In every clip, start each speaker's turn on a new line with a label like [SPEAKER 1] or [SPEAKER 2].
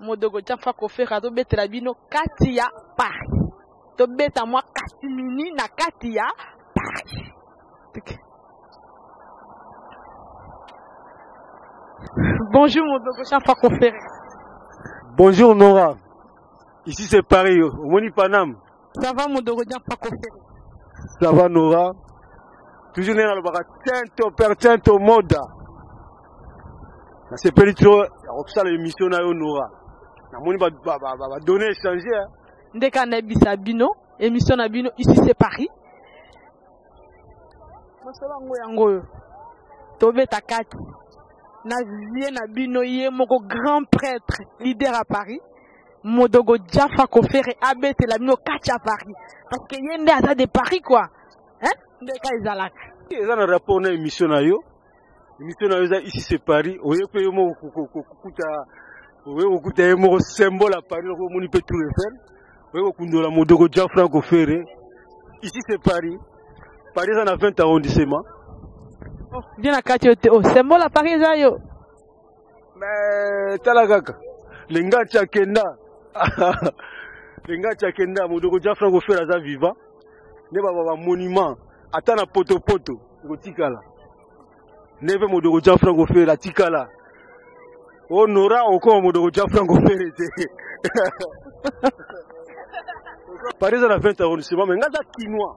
[SPEAKER 1] modogo jafa kofere azobetela bino kati ya paris tobeta mwa kasimini na kati ya paris okay. bonjour modogo jafa kofere
[SPEAKER 2] bonjour nora ici c'est paris omoni paname Ça va mon dogo
[SPEAKER 1] dia pako fere. Ça va
[SPEAKER 2] Nora? Toujours nena lobaka tento per tento moda. Nasepeli trop ya kosala émission na yo Nora. Namoni ba ba ba, ba, ba données échangées. Hein? Ndeka na
[SPEAKER 1] bisa bino émission na bino ici c'est Paris. Mosolo yango yango oyo tobeta kati na vie na bino ye moko grand prêtre leader à Paris modogo jafa kofere abetela bino kati ya paris parce que ye nde aza de paris quoi hein? nde ka ezalaka eza na rapport
[SPEAKER 2] na émission na yo émission na yo eza ici c'est paris oye mpe yo moko kokuta oye kokuta ye moko symbole ya paris loko omoni mpe tour eiffel oye kokundola modogo jean franc ofere ici c'est paris paris eza na 20 arrondissement
[SPEAKER 1] oh, bien na kati yo te o oh, symbole ya paris eza yo
[SPEAKER 2] Mais tala kaka lengacha kenda lengacha kenda modoko ja franco fera aza vivant nde baba ba monument ata na potopoto ekotikala nde mpe modoko ja franco fera atikala o nora okoma modoko ja franco fere te paris eza na 20 arrondissement me nga aza kinois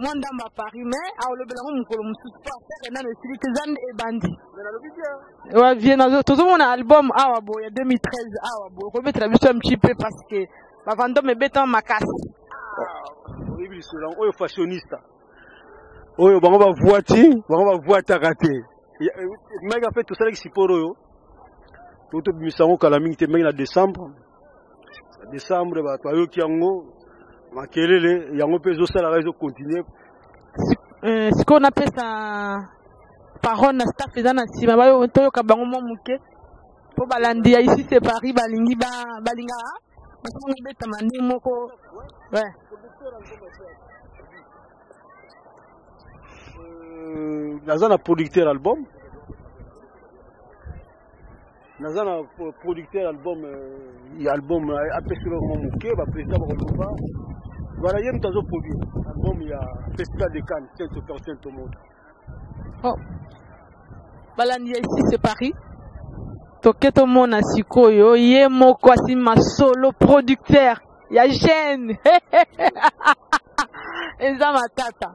[SPEAKER 1] mwa ndambo ya paris mais aolobela ngo mokolo mosusu mpo afere nano esili te eza nde ebandi wavie tozomona album awa boye ya 2013 awa boye okobetela biso ya mci mpe parce que bavandome ebetama makasi
[SPEAKER 2] ah, oyebi lisolo yango oyo fashionista oyo bango bavuati bango bavuataka te mike ape tosalaki siporo oyo totobimisa yango kala mingi te mike na décembre décembre bato bayoki yango makelele yango mpe ezosalaka ezokontinue euh,
[SPEAKER 1] sikoyo napesa parole na staff eza na nsima toyoka bango mwa moke mpo balandi ya ici se paris balingi balinga basonga ebetama nde moko
[SPEAKER 2] naza euh, na producteur album naza na producteur album ya album apesi loko mwa moke baprésident bakoloba wana ye moto azoproduire album ya festival de cannes saint otor saint omoto oh.
[SPEAKER 1] balandi ya ici c'est paris toke tomona sikoyo ye moko asima solo producteur ya gene eza matata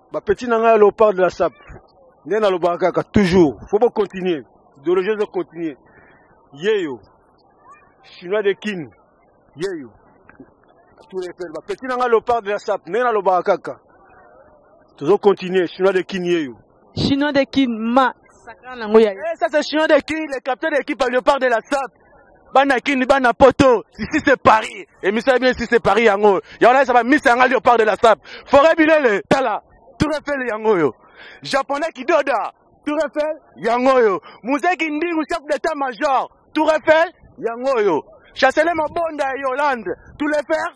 [SPEAKER 2] Ba petit na ngai Leopard de la Sap. Nde nalobaka kaka toujours. Faut bo continuer. Idéologie zo continuer. Yeyo. Chinois de Kin. Yeyo. Tout les pères. Ba petit na ngai Leopard de la Sap. Nde nalobaka kaka. Tozo continuer. Chinois de Kin yeyo. Chinois de Kin
[SPEAKER 1] ma. Sakana ngo ya. Eh,
[SPEAKER 2] ça c'est Chinois de Kin, le capitaine de l'équipe Leopard de la Sap. bana kini bana poto ici c'est paris emission bien ici c'est paris yango yango nayesa bamisa yanga leopard de la sap foret bilele tala tour efele yango oyo japonais kidoda tour efele yango oyo muzeki ndingu chef d'état major tour efele yango oyo chancelier mabonda ya yolande tour efele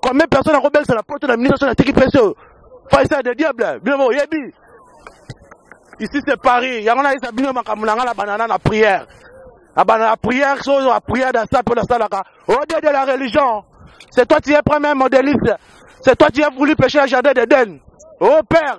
[SPEAKER 2] combien personne akobelisa na poto na ministre soki natiki pese oyo faisa de diable bino boyebi ici c'est paris yango nayesa bino makambo na ngai na banana na prière na banana na prière soki ozwa prière dasa mpe nasalaka ode de la religion c'est toi tu es premier modéliste c'est toi tu as voulu pécher le jardin d'eden oh père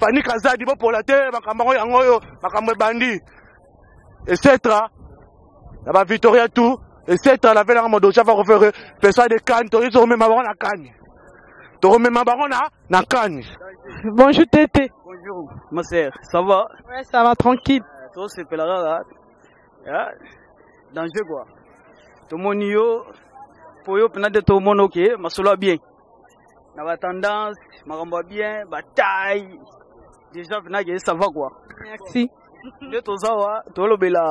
[SPEAKER 2] Fanny Kazadi bopola te makambo yango yango oyo makambo ebandi esetra na ba Victoria tout esetra na velanga modo chava kofere pesa de kani toyei tokomema bango na kani tokomema bango na na kani bonjour
[SPEAKER 1] tete bonjour ma
[SPEAKER 3] sœur ça va ouais ça va tranquille
[SPEAKER 1] euh, to sepela kaka
[SPEAKER 3] hein? danger quoi tomoni yo po yo mpenza nde tomona oke masolo ya bien na ba tendance makambo ya bien ba taille déjà venage ye sava quoi merci
[SPEAKER 1] nde toza
[SPEAKER 3] wa tolobela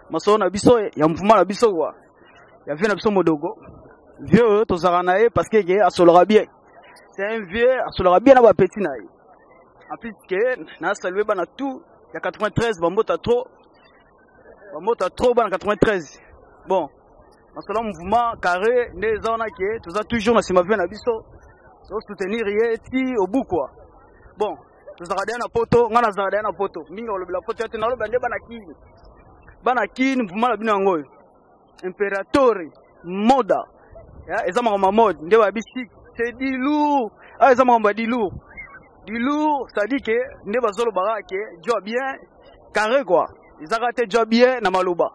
[SPEAKER 3] masolo na biso ya mvuma na biso kwa ya vie na biso modogo vieux oyo tozalaka na ye parce que ke asolaka bien c'est un vieux asolaka bien na bapeti na ye en plus ke na salue bana tout ya 93 bambota trop bambota trop bana 93 bon masolo ya mouvement carré nde eza wana ke toza toujours na nsima vie na biso tosoutenir ye ti obukwa bon tozalaka deya na poto ngai nazalaka deya na poto mingi olobela poto ya te nalobela nde bana kini bana kini mouvement na bino yango oyo imperatore moda eza makambo ya mode nde bayebisi te dilour awa ah, eza makambo ya dilour dilour cestadi ke nde bazolobaka ke joa bien carré kua ezaka te joa bien na maloba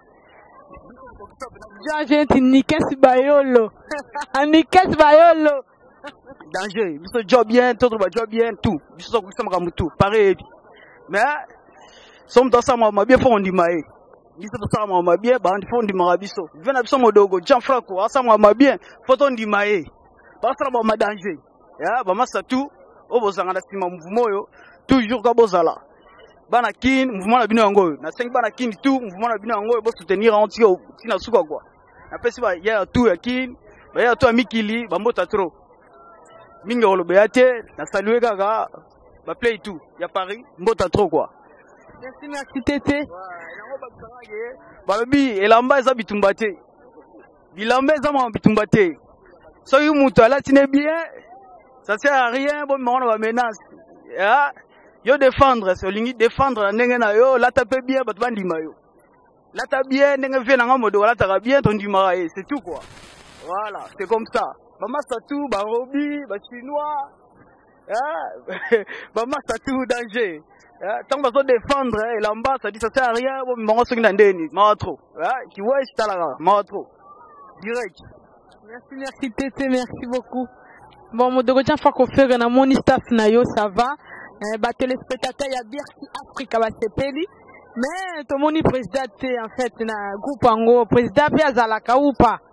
[SPEAKER 3] Danger
[SPEAKER 1] ti nikes bayolo. Ah, nikes bayolo. Danger.
[SPEAKER 3] Biso job bien, tout ba job bien tout. Biso so kusa makambo tout. Pareil. Mais somme dans ça ma bien fond du maïs. biso tosala mwa mabie bandi fo ondimaka biso ve na biso modogo jean franco asala mwa mabie fo tondima ye basala mwa madanger ya ba masta tout oyo bozanga na sima mouvement oyo toujours ka bozala bana kin mouvement na bino yango oyo nasengi bana kin tout mouvement na bino yango oyo bosoutenir yango tika ntina suka kua napesi bayaya tu ya kin bayaya tu ya mikili bambota trop mingi ya koloba ya te nasalue kaka baplay tout ya paris mbota trop kua merci merci
[SPEAKER 1] tete
[SPEAKER 3] balobi elamba eza bitumba te Bilamba eza mwa bitumba te. Soki moto alati ne bien, ça sert à rien bo mona ba menace. Ah, yo défendre, c'est lingi défendre na ndenge na yo, lata pe bien bato bandima yo. Lata bien ndenge vie na nga modo lata bien ton ndimaka ye, c'est tout quoi. Voilà, c'est comme ça. Ba massa tout, ba robi, ba chinois, Eh, ba masta tout danger eh, ntango bazo défendre eh, elamba ça dit ça sert à rien bomema yango soki na ndeni mawa trop kiwesi talaka mawa trop direct merci
[SPEAKER 1] merci tete merci beaucoup bon modogo tia fa kofere na moni staff na yo ça va ba téléspectateur ya bercy africa basepeli mais tomoni président te en fait na groupe yango président mpe azalaka ou pas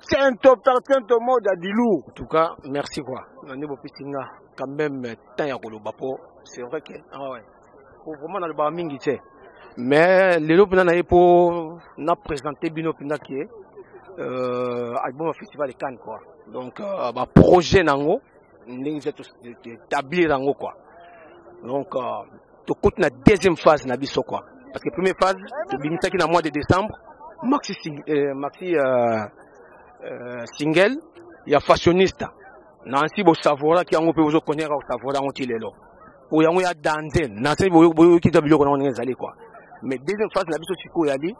[SPEAKER 2] Tento par tento mode à Dilou. En tout cas, merci
[SPEAKER 4] quoi. Nani bopesi nga quand même temps ya koloba po c'est vrai que ah ouais. Faut vraiment na loba mingi tse. Mais lelo pena na ye po na présenter bino pena ki euh album festival de Cannes quoi. Donc euh, ba projet nango ndenge etablir yango quoi. Donc euh, tokuti na deuxième phase na biso quoi parce que première phase tobimisaki na mois de décembre maxi, euh, maxi euh, euh, single ya fashionista na nsi bosavoraki yango mpe bozokondiaka kosavora yango ti lelo oyo yango ya danze na nse boyokita biloko nango ndenge ezali quoi mais deuxième phase na biso sikoyo yali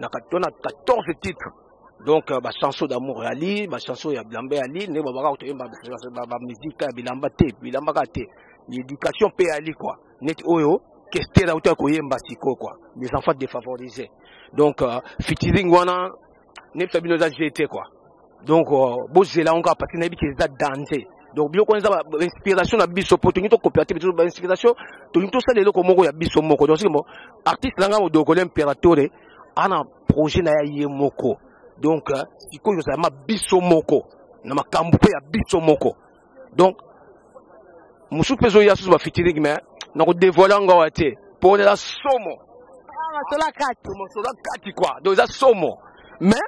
[SPEAKER 4] na 14 titre donc euh, bachanson d'amour yali bachanson ya bilamba yali ndenge babaka kotoyemba bamizika ya bilamba te bilamba kaka te éducation mpe yali kua neti oyo kester auti ya koyemba sikoyo kua les enfants défavorisés donc euh, fitiring wana nefta bino eza je te kua donc euh, bozela yango kaka parceke nayebi ke eza danger donc biloko wana eza bainspiration na biso mpo tolingi tokopela te biso bainspiration tolingi tosala eloko moko ya biso moko donc sikomo artiste na ngai modokole imperatore ana projet na ya ye moko donc euh, sikoyo ozala ma biso moko na makambo mpe ya biso moko donc mosusu mpe ezoya susu bafitiringi me nakodevoile yango awa te mpo eza somo masolo ah,
[SPEAKER 1] kati masolo kati
[SPEAKER 4] kua donc eza somo mais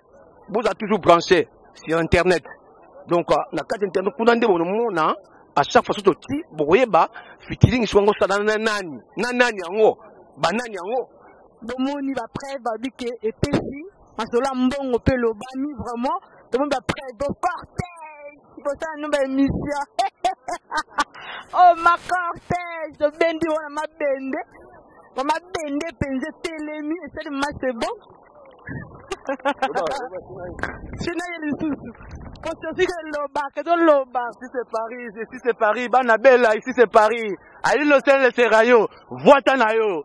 [SPEAKER 4] boza toujours branché sur internet donc euh, na kati internet kuna nde bonomona à chaque fois soki toti bokoyeba fitiringi soki yango osalana na nani na nani yango banani yango bomoni ba
[SPEAKER 1] preuve babi ke epesi masolo ya mbongo mpe elobami vraiment tomoni ba preuve bocortège bosala no ba émission oh ma cortège tobendi wana mabende bamabende mpenza etelemi esali mase bon sina ye lisusu
[SPEAKER 2] kosotika elobaka ezoloba si c'est paris si c'est paris bana bela ici c'est paris alino sele serayo vwata na yo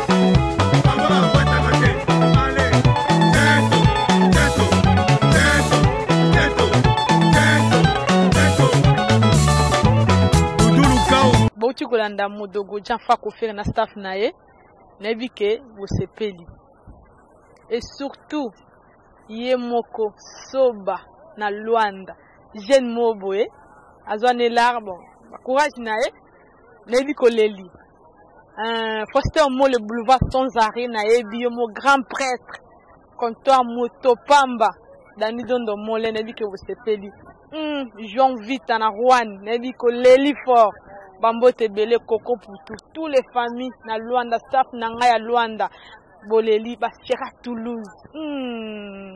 [SPEAKER 1] bauti kolanda modogo jean fako fere na staff na ye nayebi ke bosepeli e surtout ye moko soba na lwanda jeune moko boye azwa na elarbo courage na ye nayebi koleli Euh, pasteur mo le boulevard sans arrêt nayebi yo mo grand prêtre comptoir moto pamba dani dondo mole nayebi ke bosepeli mm, juan vita na juan nayebi koleli fort bambote ebele koko putu tous les familles na luanda staff na ngai ya luanda boleli basiera toulouse mm.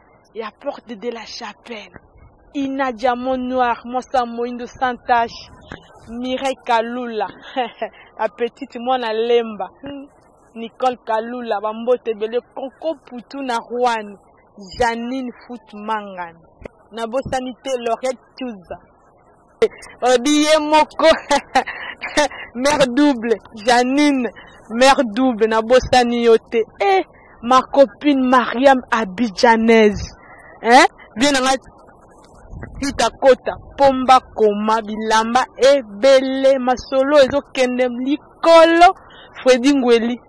[SPEAKER 1] ya porte de la chapelle ina diamant noir mwasa moindo sans tache mireille kalula la petite mwana lemba hmm. nicole kalula bambote ebele koko putu na rwani janine foot mangani nabosani te loriet tuza obiye moko mère double janine mère double nabosani yo te eh, ma copine mariam abidjanaise eh? bien nanga tita kota pomba koma bilamba ebele masolo ezokende likolo fredi ngweli